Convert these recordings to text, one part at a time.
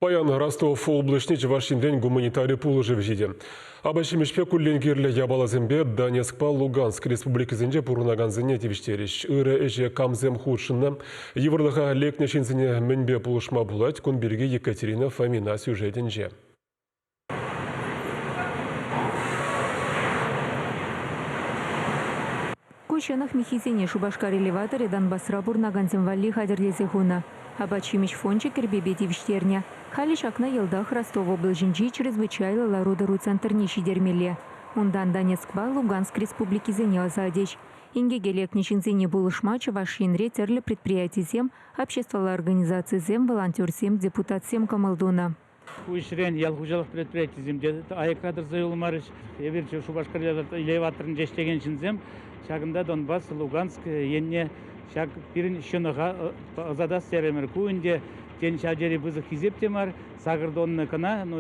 Паян Ростов облаҫне Чӑваш Енрен гуманитари пулӑшӑвӗ ҫитӗ. Апат-ҫимӗҫпе куллен кирлӗ япаласемпе Донецкпа Луганск республикисенче пурӑнакансене тивӗҫтерӗҫ. Ырӑ ӗҫе камсем хутшӑннӑ, йывӑрлӑха лекнӗ ҫынсене мӗнпе пулӑшма пулать, кун пирки Екатерина Фомина сюжетӗнче. Ку ҫӑнӑх миххисене Шупашкар элеваторӗ Донбасра пурӑнакансем валли хатӗрлесе хунӑ. Апат-ҫимӗҫ фончӗ кӗрпепе тивӗҫтернӗ. Халӗ ҫакна йӑлтах Ростов облаҫӗнчи чрезвычайлӑ лару-тӑру центрне ҫитермелле. Унтан Донецкпа Луганск республикисене ӑсатӗҫ. Инкеке лекнӗ ҫынсене пулӑшма Чӑваш Енре тӗрлӗ предприятисем, обществӑлла организацисем, волонтерсем, депутатсем кӑмӑл тунӑ. Ку ӗҫрен ял хуҫалӑх предприятийӗсем те аякра тӑрса юлмарӗҫ. Эпир Шупашкарта иле ватрӑнчӗ ӗҫлекен ҫынсем. Ҫакӑнта Донбасс, Луганск енне ҫак пирӗн ҫӑнӑха ӑсатас терӗмӗр. Ку ӗнтӗ, тен, ҫав тери пысӑк хисеп те мар. Сакӑр тонна кӑна, ну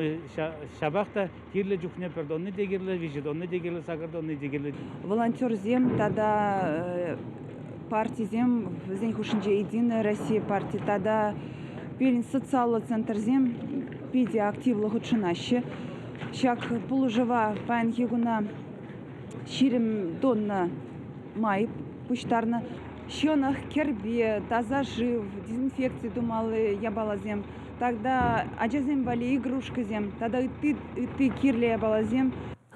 ҫапах та Кирлӗ чухне пӗр тонни те кирлӗ, виҫӗ тонни те кирлӗ, сакӑр тонни те кирлӗ. Волонтерсем тата партисем вӗсен хушшинче Единая Россия парти тата пирӗн социаллӑ центрсем питӗ активлӑ хутшӑнаҫҫӗ. Ҫак пулӑшӑва паянхи куна ҫирӗм тонна май пуҫтарнӑ. Ҫӑнӑх, кӗрпе, таса шыв, дезинфекци тумалли япаласем Тогда ачасем валли игрушкӑсем тата ытти, ытти кирлӗ япаласем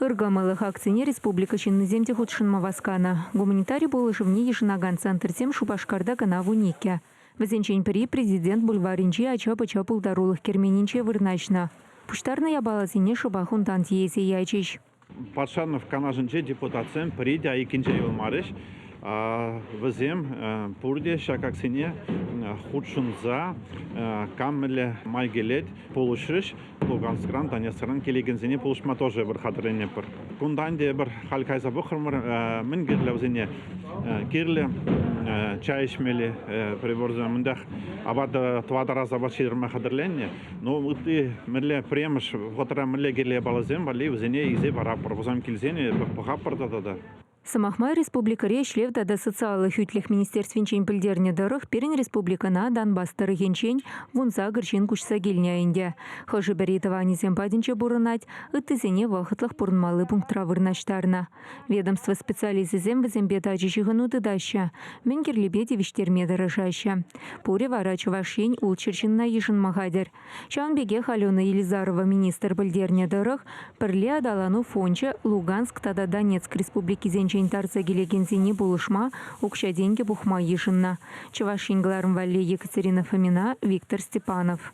Ыркӑмӑллӑх акцине республика ҫыннисем те хутшӑнма васканӑ. Гуманитари пулӑшӑвне йышӑнакан центрсем Шупашкарта кӑна вун иккӗ. Вӗсенчен пӗри Президент бульварӗнчи ача-пӑча пултарулӑх керменӗнче вырнаҫнӑ. Пуҫтарнӑ япаласене шӑпах унтан тиесе ячӗҫ. Патшанов канашӗнчи депутатсем пӗри те айккинче юлмарӗҫ. Вӗсем пурте ҫакаксене хутшӑнса кам мӗнле май килет пулӑшрӗҫ. Луганскран, Донецкран килекенсене пулӑшма тоже эпир хатӗрленӗпӗр. Кунтан те эпир халь кайса пӑхрӑмӑр, мӗн кирлӗ вӗсене кирлӗ чай ӗҫмелли приборсем. Мӗнтех апат тӑватӑрас апат ҫитерме хатӗрленнӗ. Ну, ытти мӗнле пӗрремӗш вӑхӑтра мӗнле кирлӗ япаласем валли вӗсене илсе параппӑр. Вӑсам килсен пӑхаппӑр та тата. Сӑмах май, республикӑри Ӗҫлев тата социаллӑ хӳтлӗх министерствинчен пӗлтернӗ тӑрӑх, пирӗн республикӑна Донбасс тӑрӑхӗнчен вунсакӑр ҫын куҫса килнӗ ӗнтӗ. Хӑшӗ-пӗри тӑванӗсем патӗнче пурӑнать, ыттисене вӑхӑтлӑх пурӑнмалли пунктра вырнаҫтарнӑ. Ведомство специалисчӗсем вӗсемпе тачӑ ҫыхӑну тытаҫҫӗ, мӗн кирлипе тивӗҫтерме тӑрӑшаҫҫӗ. Пурӗ вара Чӑваш Ен ултҫӗр ҫынна йышӑнма хатӗр. Ҫавӑн пекех Алена Елизарова министр пӗлтернӗ тӑрӑх, пӗрле аталану фончӗ Луганск тата Донецк республикисенчен тарса килекенсене пулӑшма укҫа-тенкӗ пухма йышӑннӑ. Чӑваш Ен кӑларӑм валли Екатерина Фомина, Виктор Степанов.